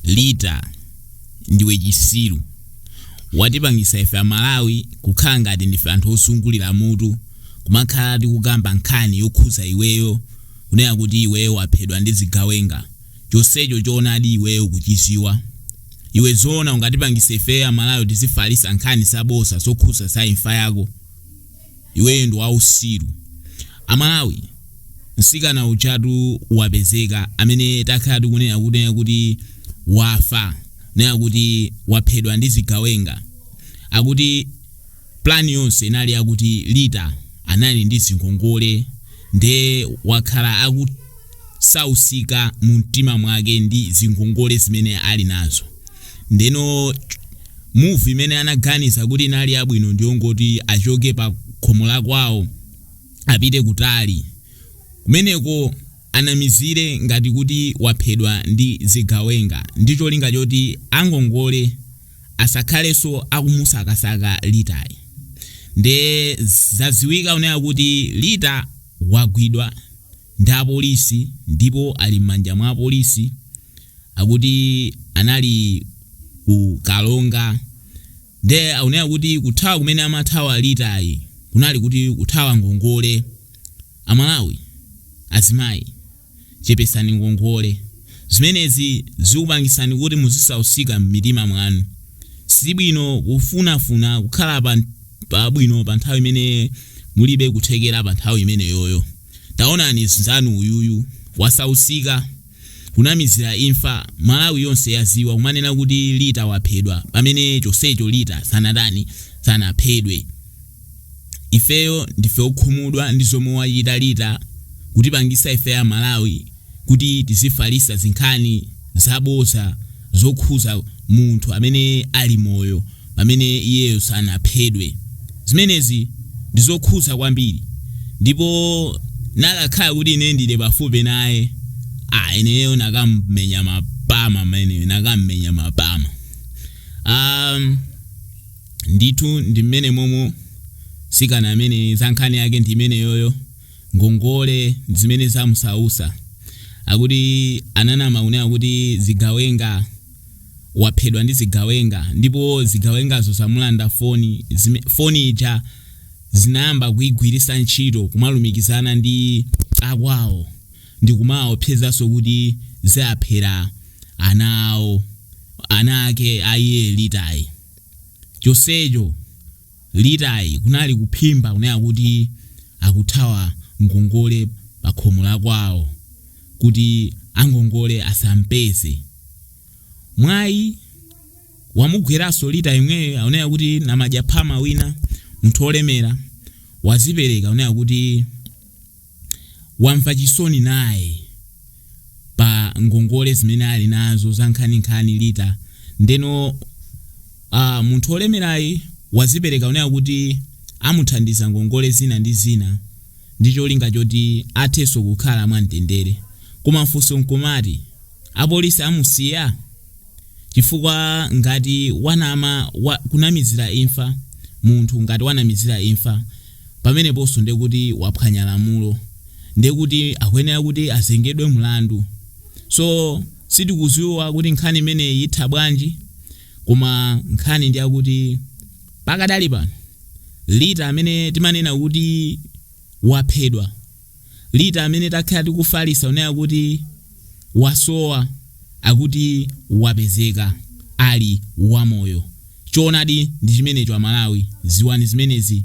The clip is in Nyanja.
Rita ndiwe chisiru watipangisa ife amalawi kukhala ngati ndife anthu osungulira mutu kumakhala tikukamba nkhani yokhuza iweyo kunena kuti iweyo waphedwa ndi zigawenga chonsecho choonadi iweyo ukuchiziwa iwe zoona ungatipangise ifeyo amalawi tizifalisa nkhani zaboza zokhuza za imfa yako iwe ndi wausiru amalawi msikana ujatu wapezeka amene takhala tikunena kunena kuti wafa nena kuti waphedwa ndi zigawenga akuti plani yonse inali yakuti Rita anali ndi zingongole nde wakhala akusausika mu mtima mwake ndi zingongole zimene ali nazo Ndeno movie imene anaganiza kuti inali yabwino ndiyongoti achoke pa khomo la kwawo apite kutali. Kumeneko anamizire ngati kuti waphedwa ndi zigawenga ndi cholinga choti angongole asakhalenso akumusakasaka Ritayi. Nde zadziwika kunena kuti Rita wagwidwa. ndi apolisi ndipo ali m'manja mwa apolisi akuti anali ku Karonga nde akunena kuti kuthawa kumene amathawa Ritayi kunali kuti kuthawa ngongole amalawi azimayi chepesani ngongole zimenezi zikupangisani kuti muzisausika m'mitima mwanu sibwino kufunafuna kukhala pa, pabwino pa nthawi imene mulibe kuthekera pa nthawi imeneyoyo taonani nzanu uyuyu wasausika kunamizira imfa malawi yonse yaziwa kumanena kuti Rita waphedwa pamene chonsecho Rita sanatani sanaphedwe ifeyo ndife okhumudwa ndi zomwe wachita Rita kutipangisa ife amalawi kuti tizifalisa zinkhani zaboza zokhuza munthu amene ali moyo pamene iyeyo sanaphedwe. Zimenezi ndizokhuza kwambiri ndipo nakakhala kuti ine ndili pafupi naye aah ineyo nakamumenya mapama ameneyo nakamumenya mapama. Aah ndithu ndi mmenemomo msikana ameneyi zankhani yake ndimeneyoyo. ngongole ndzimene zamusausa akuti ananama kunena kuti zigawenga waphedwa ndi zigawenga ndipo zigawengazo zamulanda foni zime, foni ija zinayamba kuigwirisa ntchito kumalumikizana ndi akwawo ndikumawaopsezanso kuti zaaphera ana awo ana ake aiye Ritayi chonsecho Ritayi kunali kuphimba kunena kuti akuthawa ngongole pakhomo lakwawo kuti angongole asampeze. Mwayi wamugweranso Rita yemweyo akunena kuti namadyaphama wina, munthu olemera, wazipereka kunena kuti. wamva chisoni naye pa ngongole zimene ali nazo zankhaninkhani Rita ndeno uh, munthu olemerayi wazipereka kunena kuti amuthandiza ngongole zina ndi zina ndi cholinga choti athe so kukhala mwamtendere koma funso nkumati apolisi amusiya chifukwa ngati wanama wa, kunamizira imfa munthu ngati wanamizira imfa pameneponso ndiye kuti waphwanya lamulo ndiye kuti akuyenera kuti azengedwe mlandu so sitikuziwa kuti nkhani imeneyi itha bwanji koma nkhani ndi yakuti pakadali pano Rita amene timanena kuti waphedwa Rita amene takhala tikufalisa kunena kuti wasowa akuti wapezeka ali wamoyo choonadi ndichimenecho aMalawi ziwani zimenezi.